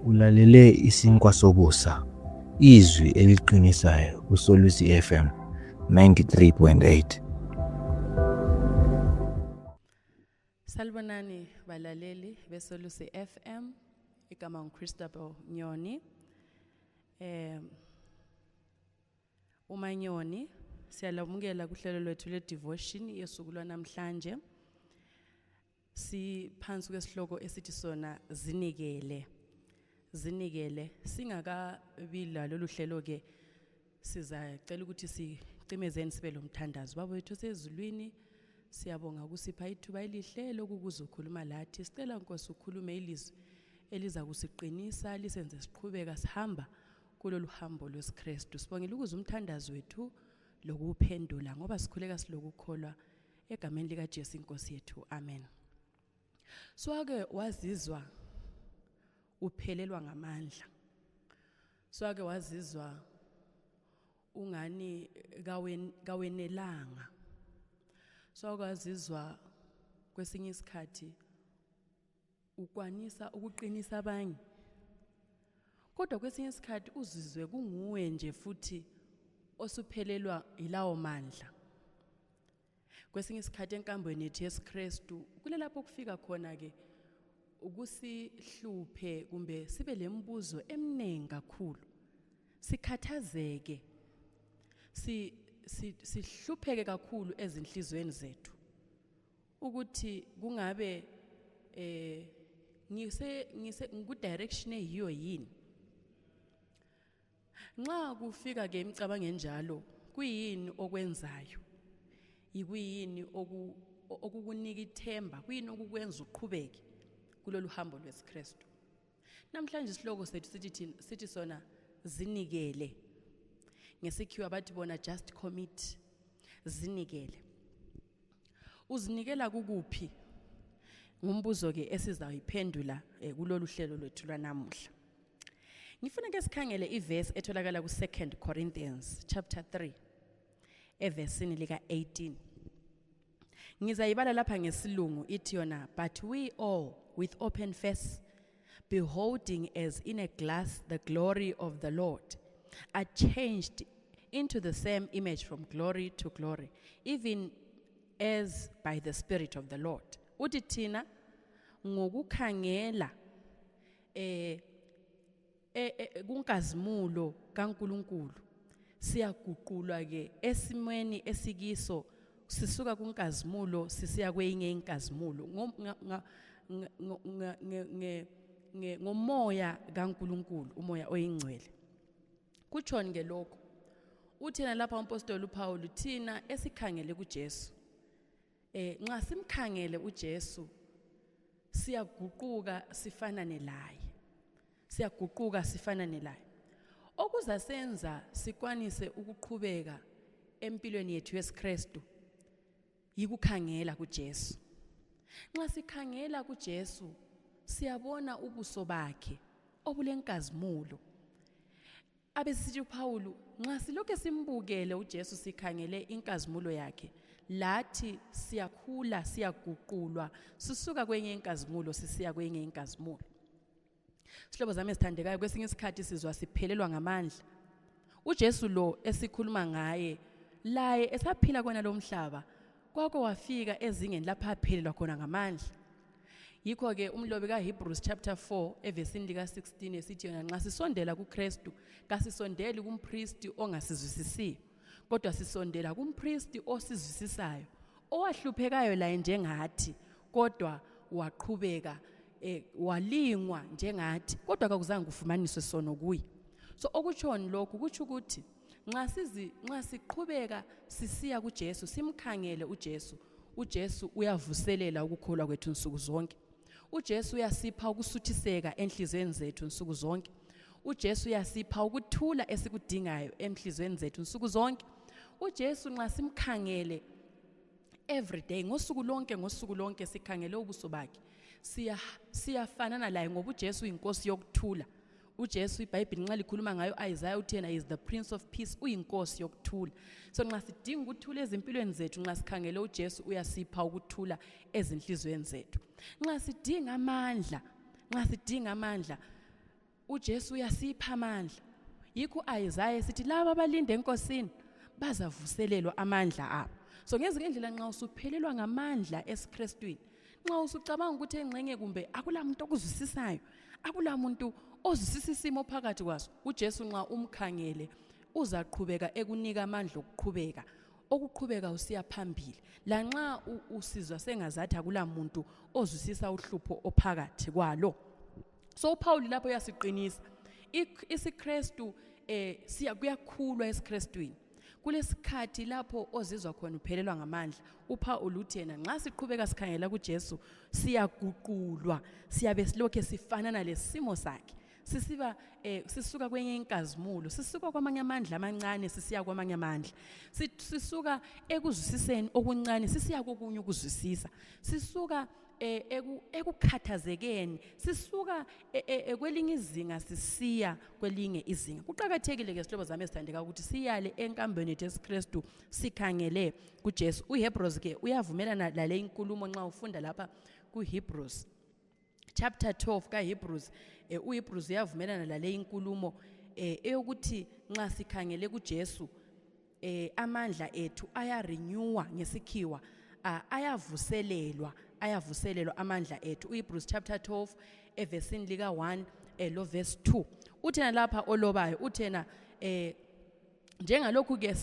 Ulalele isinkwa sobusa, izwi eliqinisayo kuSolusi FM 93.8. Salibonani balaleli beSolusi FM igama nguChristopher Nyoni. Eh uManyoni siyalamukela kuhlelo lwethu le devotion yesuku lwanamhlanje. siphansi kwesihloko esithi sona zinikele zinikele singakabi lalolu hlelo-ke sizacela ukuthi sicimezeni sibe lo mthandazo baba wethu osezulwini siyabonga ukusipha ithuba elihle lokukuza ukhuluma lathi sicela nkosi ukhulume ilizwi eliza kusiqinisa lisenze siqhubeka sihamba kulolu hambo lwesikristu sibongela ukuze umthandazo wethu lokuwuphendula ngoba sikhuleka silokukholwa egameni likaJesu inkosi yethu amen swake wazizwa uphelelwa ngamandla swake wazizwa ungani kawenelanga swake wazizwa kwesinye isikhathi ukwanisa ukuqinisa abanye kodwa kwesinye isikhathi uzizwe kunguwe nje futhi osuphelelwa yilawo mandla kwesinye isikhathi enkambweni yethu yesikristu kulelapho kufika khona-ke ukusihluphe kumbe sibe le mbuzo eminingi kakhulu sikhathazeke sihlupheke kakhulu ezinhliziyweni zethu ukuthi kungabe eh ngise ngise ngikudirection eyiyo yini nxa kufika ke imicabango enjalo kuyini okwenzayo yikuyini okukunika ithemba kuyini okukwenza uqhubeke kulolu hambo lwesikristu namhlanje isihloko sethu sithi thina- sithi sona zinikele ngesikhiwa bathi bona just commit zinikele uzinikela kukuphi ngumbuzo ke esizawuyiphendula eh, kulolu hlelo lwethu lwanamuhla ngifuna ke sikhangele ivesi etholakala ku-2 corinthians chapter 3 evesini lika-18 ngizayibala lapha ngesilungu ithi yona but we all with open face beholding as in a glass the glory of the lord are changed into the same image from glory to glory even as by the spirit of the lord uthi thina ngokukhangela eh e, e, kunkazimulo kaNkuluNkulu siyaguqulwa ke esimweni esikiso sisuka kunkazimulo sisiya kweyinye inkazimulo ngomoya kaNkuluNkulu umoya oyingcwele kutshoni ke lokho uthina lapha umpostoli uPawulu thina esikhangele kuJesu Eh nxa simkhangele uJesu siyaguquka sifanane laye. Siyaguquka sifanane laye. Okuza senza sikwanise ukuqhubeka empilweni yethu yesiKristu yikukhangela kuJesu. Nxa sikhangela kuJesu siyabona ubuso bakhe obulenkazimulo. abesisithi uPawulu nxa silokhe simbukele uJesu sikhangele inkazimulo yakhe lathi siyakhula siyaguqulwa sisuka kwenye inkazimulo sisiya kwenye inkazimulo Sihlobo zami esithandekayo kwesinye isikhathi sizwa siphelelwa ngamandla uJesu lo esikhuluma ngaye laye esaphila kona lomhlaba kwakho wafika ezingeni lapho aphelelwa khona ngamandla yikho-ke umlobi kahebrews chapter 4 evesini lika-16 esithi yona nxa sisondela kukristu kasisondeli kumpristi ongasizwisisiyo kodwa sisondela kumpristi osizwisisayo owahluphekayo laye njengathi kodwa waqhubeka eh, walingwa njengathi kodwa kakuzange kufumaniswe sono kuye so okutshoni lokhu kutsho ukuthi nxa sizi nxa siqhubeka sisiya kuJesu simkhangele uJesu uJesu uyavuselela ukukholwa kwethu nsuku zonke uJesu uyasipha ukusuthiseka enhlizweni zethu nsuku zonke uJesu uyasipha ukuthula esikudingayo enhlizweni zethu nsuku zonke uJesu nxa simkhangele every day ngosuku lonke ngosuku lonke sikhangele ubuso bakhe siya siyafanana laye ngoba uJesu uyinkosi yokuthula ujesu ibhayibhile nxa likhuluma ngayo isaya uthi yena is the prince of peace uyinkosi yokuthula so nxa sidinga ukuthula ezimpilweni zethu nxa sikhangele ujesu uyasipha ukuthula ezinhliziyweni zethu nxa sidinga amandla nxa sidinga amandla ujesu uyasipha amandla yikho isaya esithi laba abalinde enkosini bazavuselelwa amandla abo so ngezinye indlela nxa usuphelelwa ngamandla esikristwini nxa usucabanga ukuthi engxenye kumbe akula muntu okuzwisisayo akula muntu ozwisisa isimo phakathi kwaso ujesu nxa umkhangele uzaqhubeka ekunika amandla okuqhubeka okuqhubeka usiya phambili lanxa usizwa sengazathi akula muntu ozwisisa uhlupho ophakathi kwalo so uphawuli lapho uyasiqinisa isikristu um eh, kuyakhulwa esikristwini kulesikhathi lapho ozizwa khona uphelelwa ngamandla uphawulu uthi yena nxa siqhubeka sikhangela kujesu siyaguqulwa siyabe silokhe sifanana lesimo sakhe sisiba eh, sisuka kwenye inkazimulo sisuka kwamanye amandla amancane sisiya kwamanye amandla sisuka ekuzwisiseni okuncane sisiya kokunye ukuzwisisa sisuka e, eku, ekukhathazekeni sisuka e, e, e, kwelinye izinga sisiya kwelinye izinga kuqakathekile ke sihlobo zami esithandeka ukuthi siyale enkambeni yethu esikristu sikhangele kujesu uhebrews ke uyavumelana lale inkulumo nxa ufunda lapha kuhebrews chapter 12 kahebrews e, uhebrews uyavumelana lale inkulumo e, eyokuthi nxa sikhangele kujesu eh amandla ethu ayarenewa ngesikhiwa ah, ayavuselelwa ayavuselelwa amandla ethu uHebrews chapter 12 evesini lika 1 eh, lo verse 2 uthena lapha olobayo uthena eh njengalokhu ke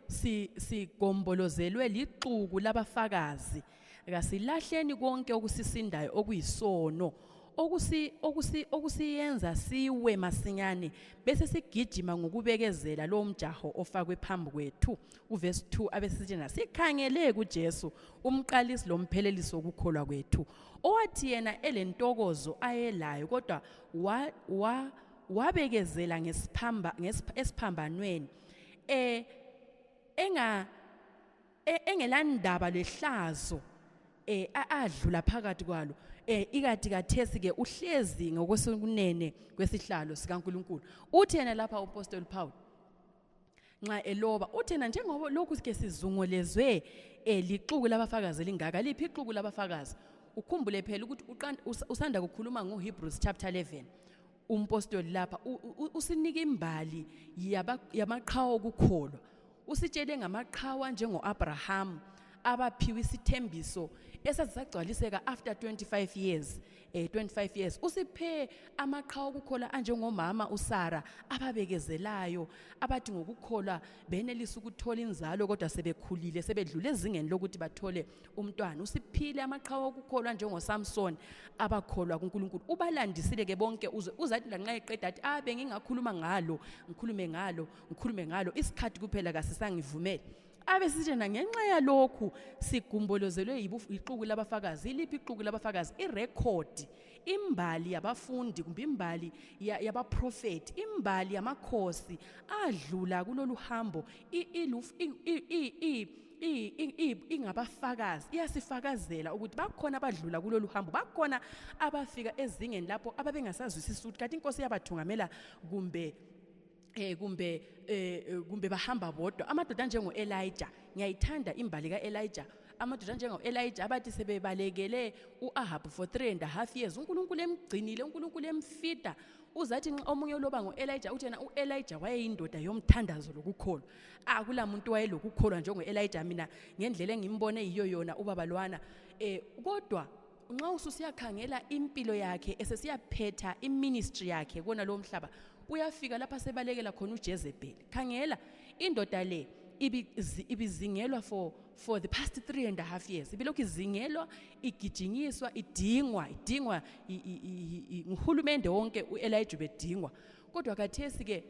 si sigombolozelwe lixuku labafakazi kasilahleni konke okusisindayo okuyisono okusi okusi okusiyenza siwe masinyane bese sigijima ngokubekezela lo mjaho ofakwe phambi kwethu uverse 2 abesithi nasikhangele kuJesu umqalisi lomphelelisi wokukholwa kwethu owathi yena elentokozo ayelayo kodwa wa, wa wabekezela ngesiphamba ngesiphambanweni eh enga e- engelandaba lehlazo eh a- adlula phakathi kwalo eh ikati kathesi ke uhlezi ngokwesokunene kwesihlalo sikaNkuluNkulu uthi yena lapha uApostle Paul nxa eloba uthi yena njengoba lokhu ke sizungolezwe eh lixuku labafakazi elingaka liphi ixuku labafakazi ukhumbule phela ukuthi uqan- us- usanda kukhuluma ngoHebrews chapter 11 umpostoli lapha usinike imbali yamaqhawa okukholwa usitshele ngamaqhawa njengo-abrahamu abaphiwe isithembiso esazisagcwaliseka after 25 years eh 25 years usiphe amaqhawe okukhola anjengomama uSara ababekezelayo abathi ngokukhola benelisa ukuthola inzalo kodwa sebekhulile sebedlule ezingeni lokuthi bathole umntwana usiphile amaqhawe okukholwa njengosamsoni abakholwa kunkulunkulu ubalandisile ke bonke uzwe uzathi lanxa eqeda athi abe ah, ngingakhuluma ngalo ngikhulume ngalo ngikhulume ngalo isikhathi kuphela kasisangivumele abe sitshena ngenxa yalokhu sigumbolozelwe yixuku labafakazi iliphi ixuku labafakazi irekhodi imbali yabafundi kumbe imbali yabaprofethi imbali yamakhosi adlula kulolu hambo ingabafakazi iyasifakazela ukuthi bakhona abadlula kulolu hambo bakhona abafika ezingeni lapho ababengasazwisisi ukuthi kati inkosi iyabathungamela kumbe eh kumbe eh, eh kumbe bahamba bodwa amadoda njengo Elijah ngiyayithanda imbali ka Elijah amadoda njengo Elijah abathi sebebalekele uAhab for 3 and a half years uNkulunkulu emgcinile uNkulunkulu emfida uzathi omunye loba ngo Elijah uthi yena uElijah wayeyindoda yomthandazo lokukholwa akula muntu wayelokukholwa njengo-elija mina ngendlela engimbone yiyo yona ubaba lwana eh kodwa nxa ususiyakhangela impilo yakhe esesiyaphetha iministry yakhe kona lowo mhlaba uyafika lapha sebalekela khona ujezebheli khangela indoda le ibizingelwa for for the past three and a half years ibilokhu izingelwa igijinyiswa idingwa idingwa nguhulumende wonke u-elija ubedingwa kodwa kathesi-ke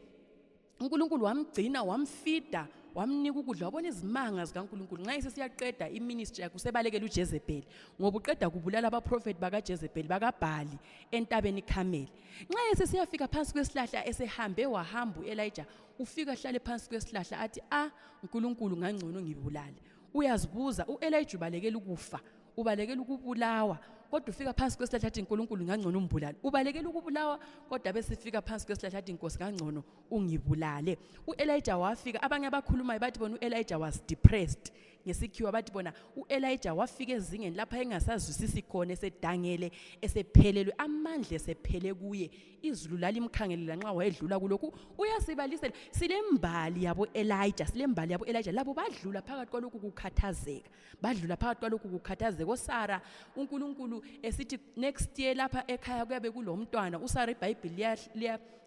uNkulunkulu wamgcina wamfida wamnika ukudla wabona izimanga zikaNkulunkulu nxa isesiyaqeda iministry yakhe usebalekela uJezebeli ngoba uqeda kubulala abaprofethi bakaJezebeli bakaBhali entabeni iKhameli nxa esesiyafika phansi kwesihlahla esehambe wahamba uElijah ufika hlale phansi kwesihlahla athi ah uNkulunkulu ngangcono ngibulale uyazibuza uElijah ubalekela ukufa ubalekela ukubulawa kodwa ufika phansi kwesihlahla athi nkulunkulu ngangcono umbulale ubalekela ukubulawa kodwa besifika phansi kwesihlahla athi nkosi ngangcono ungibulale u-elija wafika abanye abakhulumayo bathi bona u-elija was depressed ngesikhiwa bathi bona u-elija wafika ezingeni lapho engasazwisisi khona esedangele esephelelwe amandla esephele kuye izulu lalimkhangelela nxa wayedlula kulokhu uyasibalisela silembali yabo-elija silembali yabo-elija labo badlula phakathi kwalokhu kukhathazeka badlula phakathi kwalokhu kukhathazeka osara unkulunkulu esithi next year lapha ekhaya kuyabe kulo mntwana usara ibhayibhili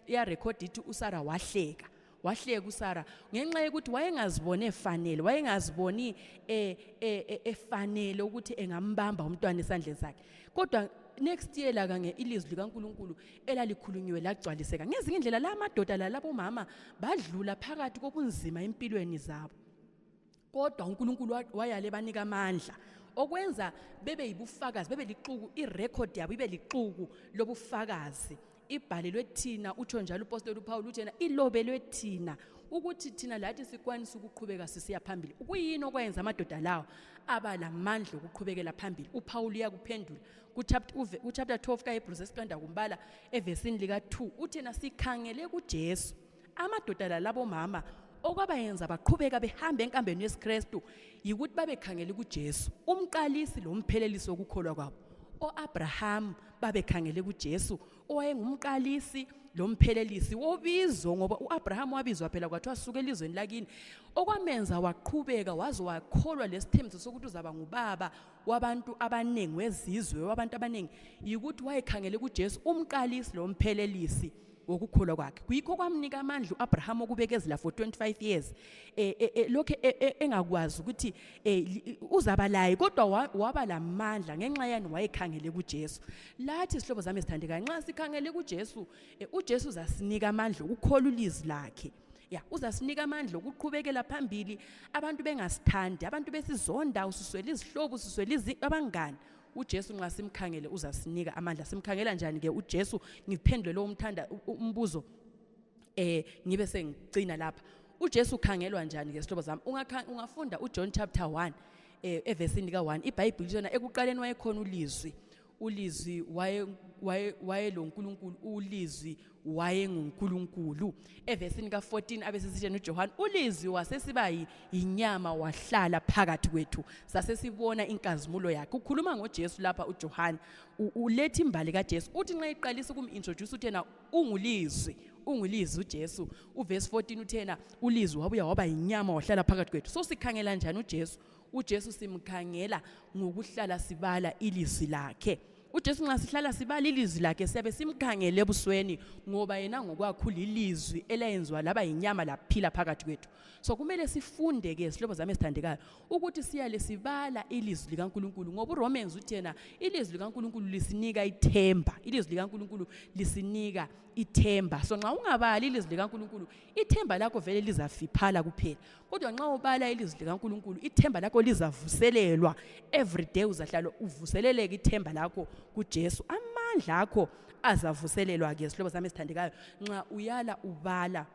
liyarekhoda ithi usara wahleka wahleka usara ngenxa yokuthi wayengaziboni efanele wayengaziboni eh, eh, eh, efanele ukuthi engambamba umntwana esandleni sakhe kodwa next year la kanye ilizwi likaNkuluNkulu elalikhulunyiwe lagcwaliseka ngezinye indlela la madoda la labomama badlula phakathi kobunzima empilweni zabo kodwa uNkulunkulu wayale banika amandla okwenza bebe yibufakazi bebe lixuku irecord yabo ibe lixuku lobufakazi ibhalelwe thina utsho njalo upostoli uPawulu uthena ilobelwe thina ukuthi thina lathi sikwanisa ukuqhubeka sisiya phambili kuyini okwenza amadoda lawo aba lamandla okuqhubekela phambili uPawulu uyakuphendula kuchapter 12 kaHebrews esiqanda kumbala evesini lika 2 uthena sikhangele kuJesu amadoda lalabomama okwabayenza baqhubeka behamba enkambeni yesikristu yikuthi babekhangele kujesu umqalisi lomphelelisi wokukholwa kwabo o-abrahamu babekhangele kujesu owayengumqalisi lo mphelelisi wobizo ngoba u-abrahamu wabizwa phela kwathiwa suke elizweni lakini okwamenza waqhubeka waze wakholwa lesithembiso sokuthi uzaba ngubaba wabantu abaningi wezizwe wabantu abaningi yikuthi wayekhangele kujesu umqalisi lo mphelelisi wokukholwa kwakhe kuyikho kwamnika amandla uAbraham okubekezela for 25 years eh, eh, eh lokho eh, eh, engakwazi ukuthi uzaba laye kodwa waba lamandla ngenxa yani wayekhangele kuJesu lathi sihlobo zami sithandekayo nxa sikhangele kuJesu uJesu uzasinika amandla okukholwa ulizi lakhe ya uzasinika amandla okuqhubekela phambili abantu bengasithandi abantu besizonda usiswela izihlobo usiswela abangani uJesu nxa simkhangele uzasinika amandla simkhangela njani ke uJesu ngiphendule lo umthanda umbuzo eh ngibe sengicina lapha uJesu ukhangelwa njani ke sihlobo zami ungafunda uJohn chapter 1 eh evesini lika 1 iBhayibheli lona ekuqaleni wayekhona ulizwi ulizwi waye waye wayeloNkulunkulu ulizwi wayengunkulunkulu evesini ka-14 abesesitsheni ujohane ulizwi wasesiba yinyama wahlala phakathi kwethu sasesibona inkazimulo yakhe ukhuluma ngojesu lapha ujohane uletha imbali kajesu uthi nxa iqalisa ukum-introduce uthi yena ungulizwi ungulizwi ujesu uvesi 14 uthi yena ulizwi wabuya waba yinyama wahlala phakathi kwethu so sikhangela njani ujesu ujesu simkhangela ngokuhlala sibala ilizwi lakhe uJesu nxa sihlala sibala ilizwi lakhe siyabe simkhangele ebusweni ngoba yena ngokwakho lilizwi elayenziwa laba yinyama laphila phakathi kwethu so kumele sifunde ke sihlobo zami esithandekayo ukuthi siyale sibala ilizwi likaNkuluNkulu ngoba uRomans uthi yena ilizwi likaNkuluNkulu lisinika ithemba ilizwi likaNkuluNkulu lisinika ithemba so nxa ungabali ilizwi likaNkuluNkulu ithemba lakho vele lizafiphala kuphela kodwa nxa ubala ilizwi likankulunkulu ithemba lakho lizavuselelwa every day uzahlala uvuseleleke ithemba lakho kujesu amandla akho azavuselelwa ke sihlobo sami esithandekayo nxa uyala ubala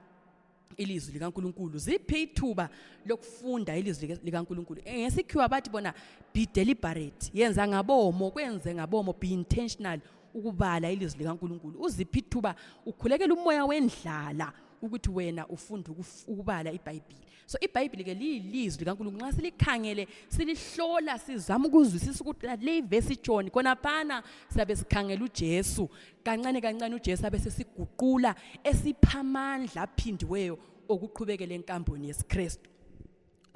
ilizwi likankulunkulu ziphi ithuba lokufunda ilizwi likankulunkulu eh, ngesikhiwa bathi bona be deliberate yenza ngabomo kwenze ngabomo be intentional ukubala ilizwi likankulunkulu uziphi ithuba ukhulekela umoya wendlala ukuthi wena ufunda ukubala ibhayibhile so ibhayibhile ke liyilizwi likankulunkulu nxa silikhangele silihlola sizama ukuzwisisa ukuthi le ivesi itshoni khonaphana siyabe sikhangela ujesu kancane kancane ujesu abe sesiguqula esipha amandla aphindiweyo okuqhubekela enkamboni yesikristu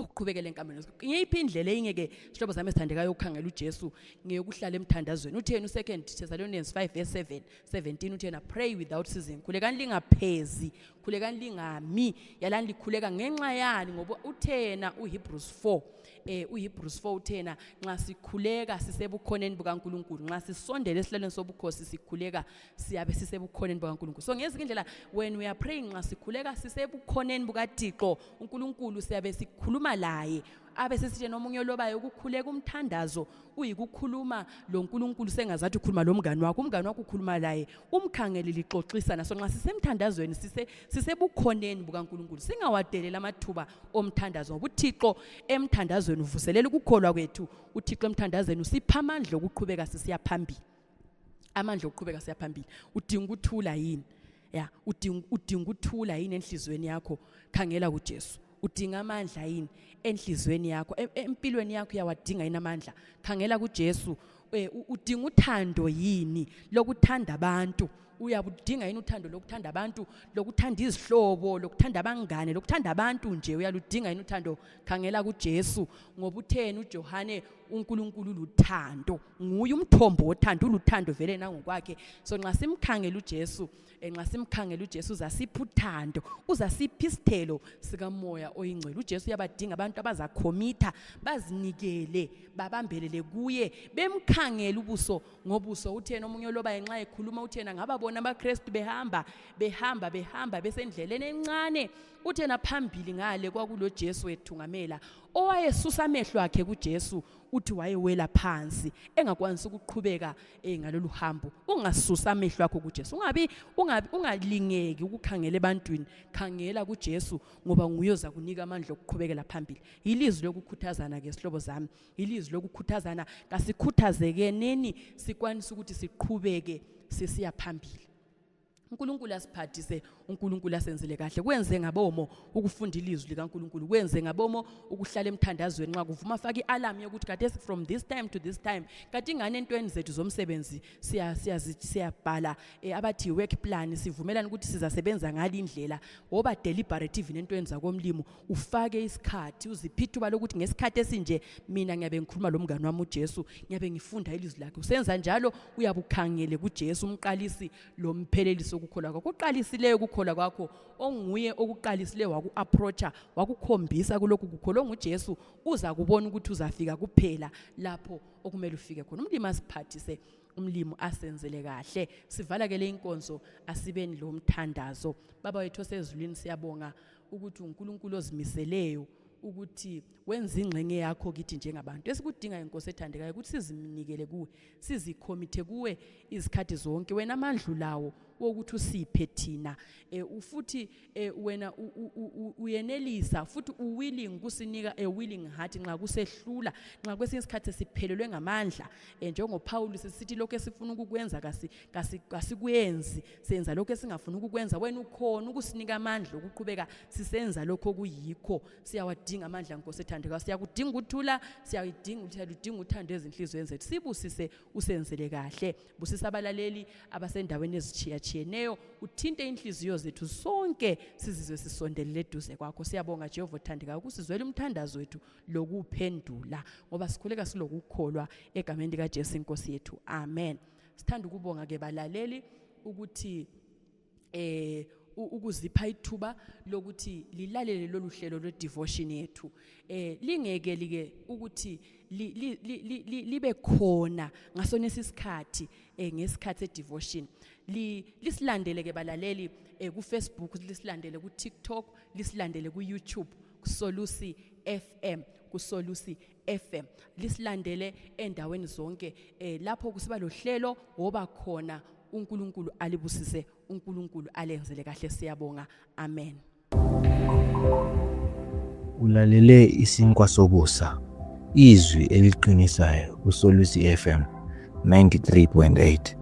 ukuqhubekela enkameni ngeyiphi indlela eyinye ke sihlobo sami esithandekayo ukukhangela ujesu ngeyokuhlala emthandazweni utheni u-second thessalonians 5 verse 7 17 uthena pray without season khulekani lingaphezi khulekani lingami yalani likhuleka ngenxa yani ngoba uthena uhebrews 4 eh uhebrews 4 uthena nxa sikhuleka sisebukhoneni bukankulunkulu nxa sisondela esihlalweni sobukhosi sikhuleka siyabe sisebukhoneni bukaNkulunkulu so ngezinye indlela when we are praying nxa sikhuleka sisebukhoneni bukaThixo uNkulunkulu siyabe sikhuluma laye abe sesitshe nomunye olobayo ukukhuleka umthandazo uyikukhuluma lo nkulunkulu sengazathi ukhuluma lo mngane wakho umngane wakho ukhuluma laye umkhangele lixoxisana so nxa sisemthandazweni sisebukhoneni bukankulunkulu singawadeleli amathuba omthandazo ngoba uthixo emthandazweni uvuselela ukukholwa kwethu uthixo emthandazweni usipha amandla okuqhubeka sisiya phambili amandla okuqhubeka siyaphambili udinga ukuthula yini ya udinga udinga ukuthula yini enhlizweni yakho khangela kuJesu udinga amandla yini enhlizweni yakho e, empilweni yakho uyawadinga yini amandla khangela kuJesu e, udinga uthando yini lokuthanda abantu uyabudinga yini uthando lokuthanda abantu lokuthanda izihlobo lokuthanda abangane lokuthanda abantu nje uyaludinga yini uthando khangela kuJesu ngoba utheni uJohane uNkulunkulu luthando nguye umthombo wothando uluthando vele nangokwakhe so nxa simkhangela uJesu eh, nxa simkhangela uJesu uzasipha uthando uzasipha isithelo sikamoya oyingcwele uJesu uyabadinga abantu abazakhomitha bazinikele babambelele kuye bemkhangela ubuso ngobuso uthena omunye oloba ngenxa ekhuluma uthena ngababona abaKristu behamba behamba behamba besendleleni encane uthena phambili ngale kwakuloJesu wethungamela owayesusa amehlo akhe kuJesu uthi wayewela phansi engakwanisi ukuqhubeka eh, ngalolu hambo ungasusa amehlo akho kuJesu ungabi ungabi ungalingeki ukukhangela ebantwini khangela kuJesu ngoba nguye oza kunika amandla okuqhubekela phambili yilizwi lokukhuthazana ke sihlobo zami yilizwi lokukhuthazana kasikhuthazeke neni sikwanisa ukuthi siqhubeke sisiya phambili uNkulunkulu asiphathise uNkulunkulu asenzele kahle kwenze ngabomo ukufunda ilizwi likaNkulunkulu kwenze ngabomo ukuhlala emthandazweni nxa kuvuma afake ialarm yokuthi kade from this time to this time kade ingane entweni zethu zomsebenzi siya siya siyabhala eh, abathi work plan sivumelana ukuthi sizasebenza ngale indlela woba deliberative nentweni zakomlimo ufake isikhathi uziphe ithuba lokuthi ngesikhathi esinje mina ngiyabe ngikhuluma lo mngane wami ujesu ngiyabe ngifunda ilizwi lakhe usenza njalo uyabe ukhangele kujesu umqalisi lo mphelelisi okukholwa kwakho oqalisileyo ukukholwa kwakho onguye okuqalisileyo waku-aproacha wakukhombisa kulokhu kukholwa ongujesu uza kubona ukuthi uzafika kuphela lapho okumele ufike khona umlimi asiphathise umlimi asenzele kahle sivala ke le inkonzo asibeni lo mthandazo baba wethu osezulwini siyabonga ukuthi uNkulunkulu ozimiseleyo ukuthi wenze ingxenye yakho kithi njengabantu esikudingayo inkosi ethandekayo ukuthi sizinikele kuwe sizikhomithe kuwe izikhathi zonke wena amandlu lawo wokuthi usiphe thina eh, futhi eh, wena uyenelisa futhi uwilling kusinika a willing heart nxa kusehlula nxa kwesinye isikhathi siphelelwe ngamandla eh, njengoPaul sisithi lokho esifuna ukukwenza kasikwenzi senza lokho esingafuni ukukwenza wena ukhona ukusinika amandla okuqhubeka sisenza lokho okuyikho siyawadinga amandla nkosi ethandekayo siyakudinga ukuthula siyayidinga siyaludinga uthando ezinhliziyweni zethu sibusise usenzele kahle busisa abalaleli abasendaweni ezitshiyatshiyeneyo uthinte inhliziyo zethu sonke sizizwe sisondelele eduze kwakho siyabonga jehova othandekayo ukusizwela umthandazo wethu lokuphendula ngoba sikhuleka silokukholwa egameni likajesu inkosi yethu amen sithanda ukubonga ke balaleli ukuthi eh ukuzipha ithuba lokuthi lilalele lolu hlelo lwe-devotion yethu eh lingeke like ukuthi libe khona ngasona isikhathi eh ngesikhathi se-devotion lisilandele ke balaleli eh ku-facebook lisilandele ku-tiktok lisilandele ku-youtube kusolusi fm kusolusi FM lisilandele endaweni zonke eh, lapho kusiba lohlelo woba khona uNkulunkulu alibusise uNkulunkulu alenzele kahle siyabonga amen Ulalele isinkwa sobusa izwi eliqinisayo kuSolusi FM 93.8